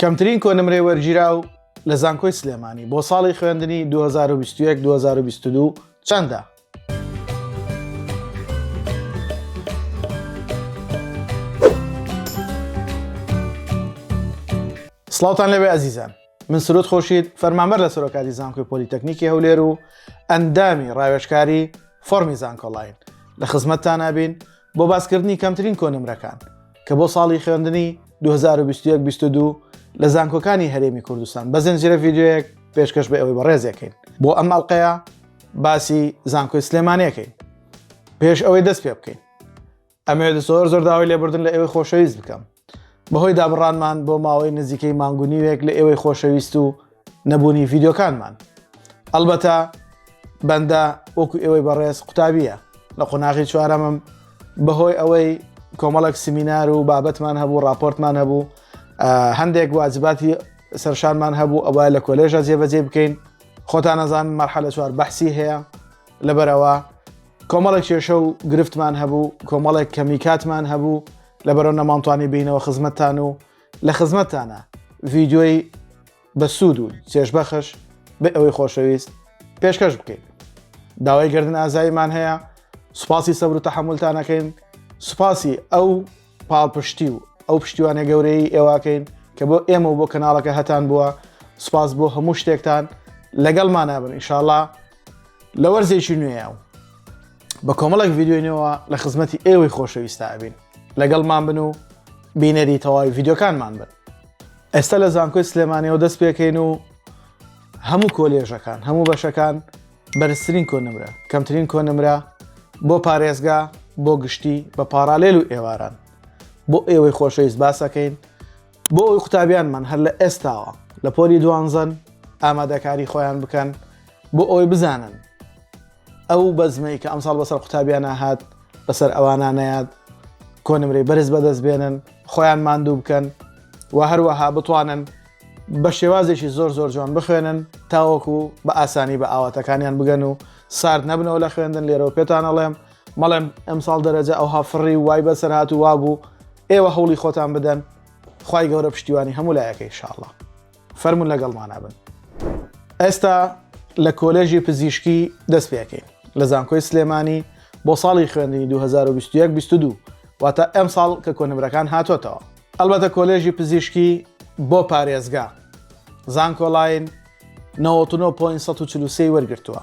کەمترین کۆنمرەی وەرگیراو لە زانکۆی سلێمانی بۆ ساڵی خوێندنی 2021 2022 چەندە؟ سڵاوتان لەوێ ئەزیزان من سرود خۆشید فەرمانبەر لە سەرۆکاتی زانکۆی پۆلیتەکنیکی هەولێر و ئەندامی ڕاوێشکاری فۆرمی زانکۆلاین لە خزمەتتانابین بۆ باسکردنی کەمترین کۆنمرەکان کە بۆ ساڵی خوێندنی 2021-22 لە زانکۆکانی هەرێمی کوردستان بە زنجرە ڤیددیوەیەک پێشکەش بە ئەوەی بەڕێزەکەین بۆ ئەم ئەڵلقەیە باسی زانکۆی سلێمانەکەین پێش ئەوەی دەست پێ بکەین ئەمێ زۆر زۆر داوای لێبوردن لە ئێوەی خۆشەویست بکەم بەهۆی دابڕانمان بۆ ماوەی نزیکەی مانگونیوێک لە ئێوەی خۆشەویست و نەبوونی ڤیددیوکانمان ئەلبەتە بەندە وەکو ئێوەی بەڕێز قوتابیە لە قۆناغی چوارەمم بەهۆی ئەوەی کۆمەڵک سمینار و بابەتمان هەبوو راپۆرتمان هەبوو هەندێک واجباتی سەرشانمان هەبوو ئەوە لە کۆلێژە جێبەجێ بکەین خۆتان نەزان مەرحە لە چوار بەحسی هەیە لەبەرەوە کۆمەڵێک کێشە و گرفتمان هەبوو کۆمەڵێک کەمی کاتمان هەبوو لەبەرەوە نەمانتوانی بینەوە خزمەتتان و لە خزمەتتانە ڤیددیۆی بە سوود و چێشبەخش بێ ئەوەی خۆشەویست پێشکەش بکەین داوای گردن ئازاییمان هەیە سوپاسی سەبر و تەحملتانەکەین سوپاسی ئەو پاڵپشتی و ئەو پشتیوانە گەورەی ئێواکەین کە بۆ ئێمە و بۆ کەناڵەکە هەتان بووە سوپاس بۆ هەموو شتێکتان لەگەڵمانابن ئیشاءڵا لە وەرزێکی نوێە و بە کۆمەڵک ڤیددیوینەوە لە خزمەتی ئێوەی خۆشەویستا ئەبین لەگەڵمان بن و بینەری تەواوی ڤیددیوکانمان بن ئێستا لە زانکۆی سلێمانەوە دەست پێکەین و هەموو کۆلێژەکان هەموو بەشەکان بەرزترین کۆنمرە کەمترین کۆنمرە بۆ پارێزگا بۆ گشتی بە پارالێل و ئێواران بۆ ئێوەی خۆشەویست باسەکەین بۆ ئەوەی قوتابیانمان هەر لە ئێستاوە لە پۆلی دوانزەن ئامادەکاری خۆیان بکەن بۆ ئەوەی بزانن ئەو بەزمەی کە ئەمساڵ بەسەر قوتابیانە هات بەسەر ئەوانە نەیاد کۆنمرەی بەرز بەدەست بێنن خۆیان ماندوو بکەن و هەروەها بتوانن بە شێوازێکی زۆر زۆر جوان بخوێنن تاوەکو بە ئاسانی بە ئاواتەکانیان بگەن و سارد نەبنەوە لە خوێندن لێرەوە پێتانەڵێم بەڵێم ئەمساڵ دەرەجە ئەوها فڕی و وای بەسەر هات و وابوو ئێوە هەوڵی خۆتان بدەن خی گەورە پشتیوانی هەموو لایەکەی شاءڵە فەرمونون لەگەڵمانابن ئێستا لە کۆلێژی پزیشکی دەست پێکەین لە زانکۆی سلێمانی بۆ ساڵی خوێندنی 2021 22 واتە ئەم ساڵ کە کۆنمرەکان هاتۆتەوە ئەلبەتە کۆلێژی پزیشکی بۆ پارێزگا زانکۆلاین 99.143 وەرگتووە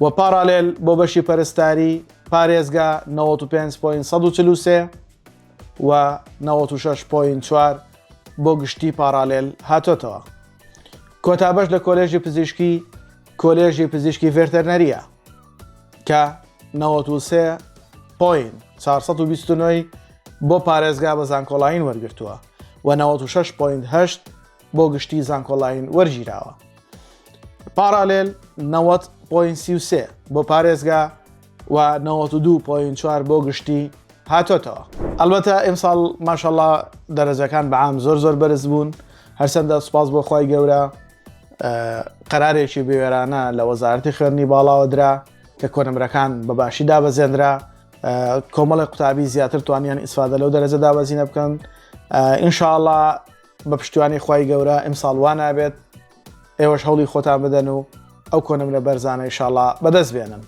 و پاڕالێل بۆ بەشی پەرستاری، پارێزگا، نەوەد و پێنج پۆینت سەد و چل و سێ و نەوەد و شەش پۆینت چوار بۆ گشتی پاڕالێل هاتۆتەوە. کۆتا بەش لە کۆلێژی پزیشکی کۆلێژی پزیشکی ڤێرتەرنەرییە کە نەوەد و سێ پۆینت چوار سەد و بیست و نۆی بۆ پارێزگا بە زانکۆڵاین وەرگرتووە و نەوەد و شەش پۆینت هەشت بۆ گشتی زانکۆلاین وەرگیراوە پارالێل 90.33 بۆ پارێزگا و 92.4 بۆ گشتی هاتۆتەوە ئەلبەتە ئەمساڵ ماشەڵا دەرەجەکان بەعام زۆر زۆر بەرز بوون هەرچەندە سوپاس بۆ خی گەورە قەرارێکی بوێرانە لە وەزارتی خوێنی باڵاوە درا کە کۆنمرەکان بەباشی دابەزێنرا کۆمەڵی قوتابی زیاتر توانیان ئیسفادە لەو دەرەجە دابەزینە بکەن ئینشاءله بە پشتیوانی خوای گەورە ئیمساڵ وا نابێت ئێوەش هەوڵی خۆتان بدەن و ئەو کۆنمرە بەرزانە ئیشاڵا بەدەست بێنن.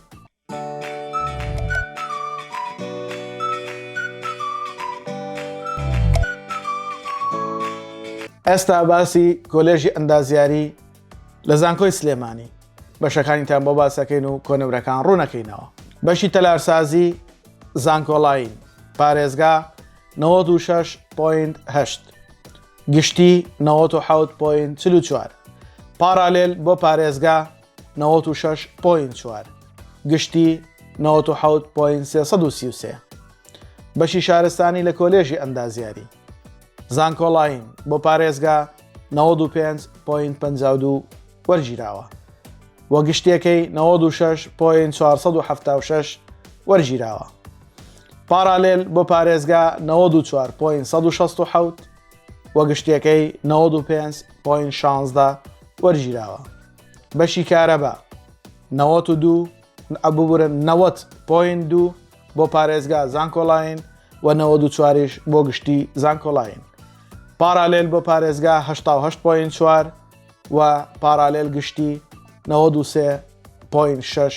ئێستا باسی کۆلێژی ئەندازیاری لە زانکۆی سلێمانی بەشەکانیتان بۆ باسەکەین و کۆنمرەکان ڕوونەکەینەوە بەشی تەلارسازی زانکۆڵین پارێزگا نەوەد و شەش پۆینت هەشت گشتی نەوەد و حەوت پۆینت چل و چوار پارالێل بۆ پارێزگا نەوەد و شەش پۆینت چوار گشتی نەوەد و حەوت پۆینت سێ سەد و سی و سێ بەشی شارستانی لە کۆلێژی ئەندازیاری زانکۆڵاین بۆ پارێزگا 95.52 وەرگیراوە وە گشتەکەی 96.476 وەرگیراوە پارالێل بۆ پارێزگا نەوەد و چوار پۆین سەد و شەست و حەوت و گشتیەکەی نەوەد و پێنج پۆین شانزدە وەرگیراوە بەشی کارەبا نەوەت و دوو ئەببورن نەوەت پۆین دوو بۆ پارێزگا زانکۆلاین و نەوەد و چواریش بۆ گشتی زانکۆلاین پارالێل بۆ پارێزگا هەشتا و هەشت پۆین چوار و پارالێل گشتی نەوەد و سێ پۆین شەش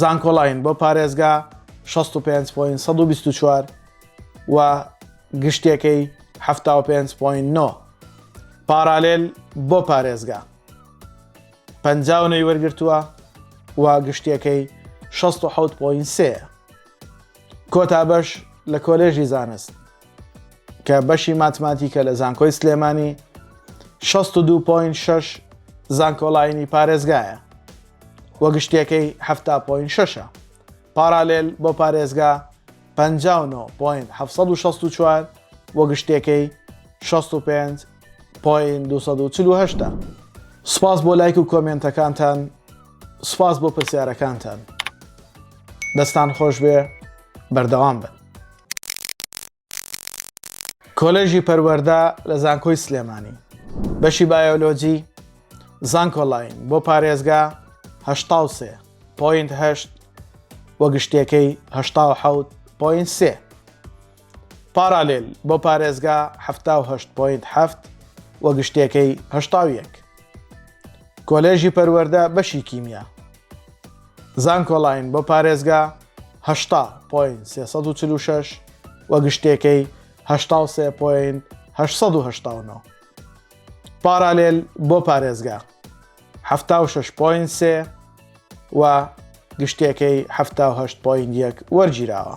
زانکۆلاین بۆ پارێزگا 65.124 و گشتیەکەی 75.9 پارالێل بۆ پارێزگا پەنجاونەی وەرگرتووە و گشتیەکەی 16.3 کۆتا بەش لە کۆلێژی زانست کە بەشی ماتماتیکە لە زانکۆی سلێمانی 62.6 زانکۆڵینی پارێزگایە وە گشتەکەی 7.6 پارالێل بۆ پارێزگا 59.764 وە گشتەکەی 65.248 سپاس بۆ لایک و کۆمێنتەکانتان سپاس بۆ پرسیارەکانتان دەستان خۆش بێ بەردەوام بن کۆلێژی پەروەردە لە زانکۆی سلێمانی بەشی بایۆلۆجی زانکۆلاین بۆ پارێزگا هەشتا و سێ پوینت هەشت وە گشتەکەی هەشتا و حەوت پوینت سێ پارالێل بۆ پارێزگا هەفتا و هەشت پوینت هەفت وە گشتەکەی هەشتا و یەک کۆلێژی پەروەردە بەشی کیمیا زانکۆلاین بۆ پارێزگا هەشتا پۆین سێ سەد و چل و شەش و گشتێکەی هەشتا و سێ پۆین هەشت سەد و هەشتا و نۆ پارالێل بۆ پارێزگا حەفتا و شەش پۆین سێ و گشتێکەی حەفتا و هەشت پۆین یەک وەرگیراوە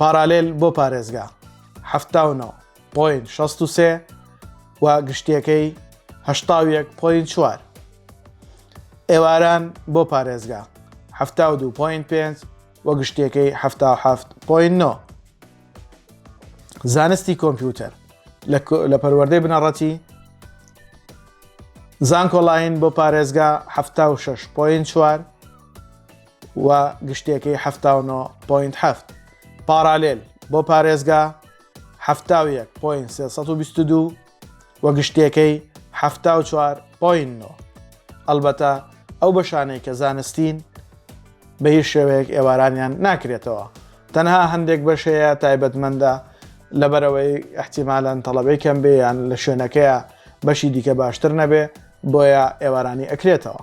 پارالێل بۆ پارێزگا حەفتا و نۆ پۆین شەست و سێ و گشتیەکەی هەشتا و یەک پۆین چوار ئێواران بۆ پارێزگا حەفتا و دوو پۆین پێنج و گشتیەکەی حەفتا و حەفت پۆین نۆ زانستی کۆمپیوتەر لە پەروەردەی بنەڕەتی زانکۆلاین بۆ پارێزگا ه6 پوین چوار و گشتێکەی حەفتا و نۆ پۆینت حەفت. پاڕالێل بۆ پارێزگا حەفتا و یەک پۆینت سێ سەد و بیست و دوو و گشتێکەی حەفتا و چوار پۆینت نۆ. ئەڵبەتە ئەو بەشانەی کە زانستین بە هیچ شێوەیەک ئێوارانیان ناکرێتەوە. تەنها هەندێک بەش هەیە تایبەتمەندە لەبەرەوەی احتیمالەن تەڵەبەی کەم بێ یان لە شوێنەکەیە بەشی دیکە باشتر نەبێ بۆیە ئێوارانی ئەکرێتەوە.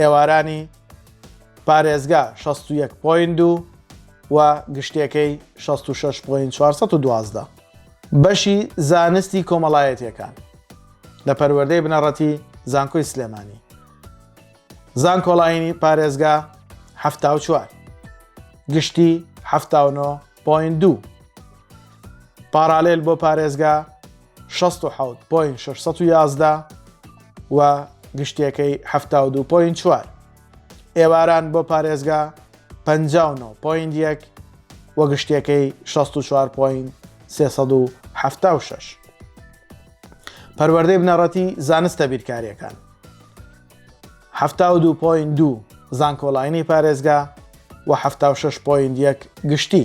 ئێوارانی پارێزگا شەست و یەک پۆینت دوو و گشتیەکەی شەست و شەش پۆینت چوار سەد و دوازدە. بەشی زانستی کۆمەڵایەتیەکان لە پەروەردەی بنەڕەتی زانکۆی سلێمانی زانکۆڵاینی پارێزگا حەفتا و چوار گشتی حەفتا و نۆ پۆینت دوو. پاڕالێل بۆ پارێزگا شەست و حەوت پۆینت شەش سەد و یازدە و گشتیەکەی حەفتا و دوو پۆینت چوار ئێواران بۆ پارێزگا پەنجا و نۆ پۆینت یەک و گشتیەکەی شەست و چوار پۆینت سێ سەد و حەفتا و شەش پەروەردەی بنەڕەتی زانستە بیرکاریەکان حەفتا و دوو پۆینت دوو زانکۆلاینی پارێزگا و حەفتا و شەش پۆینت یەک گشتی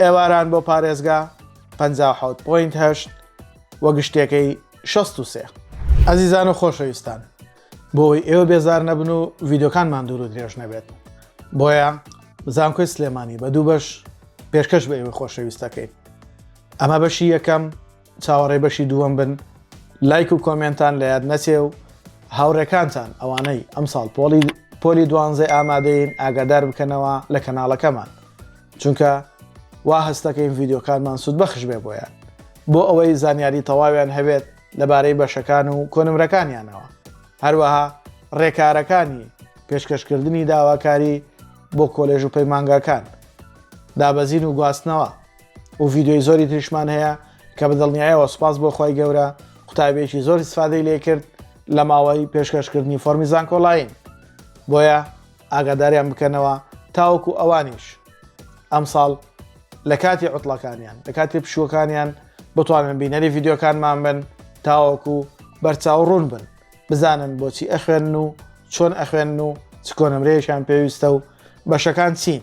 ئێواران بۆ پارێزگا پەنجا و حەوت پۆینت هەشت و گشتێکەی شەست و سێ. ئەزیزان و خۆشەویستان بۆ ئەوی ئێوە بێزار نەبن و ڤیدۆکانمان دوور و درێژ نەبێت بۆیە زانکۆی سلێمانی بە دوو بەش پێشکەش بە ئێوە خۆشەویستەکەین ئەمە بەشی یەکەم چاوەڕێی بەشی دووەم بن. لایک و کۆمێنتان لە یاد نەچێ و هاوڕێکانتان ئەوانەی ئەمساڵ پۆڵی پۆلی دوانزەی ئامادەین ئاگادار بکەنەوە لە کەناڵەکەمان چونکە وا هەستەکەین ڤیدیۆکانمان سود بەخش بێ بۆیان بۆ ئەوەی زانیاری تەواویان هەبێت لەبارەی بەشەکان و کۆنمرەکانیانەوە هەروەها ڕێکارەکانی پێشکەشکردنی داواکاری بۆ کۆلێژ و پەیمانگاکان دابەزین و گواستنەوە و ڤیددیوی زۆری تریشمان هەیە کە بە دڵنیایەوە سپاس بۆ خی گەورە قوتابێکی زۆر سفادەی لێ کرد لە ماوەی پێشکەشکردنی فۆرمی زانکۆلاین بۆیە ئاگاداریان بکەنەوە تاوەکو ئەوانیش ئەمساڵ لە کاتی عوتڵەکانیان لە کاتی پشوەکانیان بتوانن بینەری ڤیددیوکانمان بن تاوەکو بەرچاو ڕوون بن بزانن بۆچی ئەخوێن و چۆن ئەخوێن و چکۆنمرەیەشان پێویستە و بەشەکان چین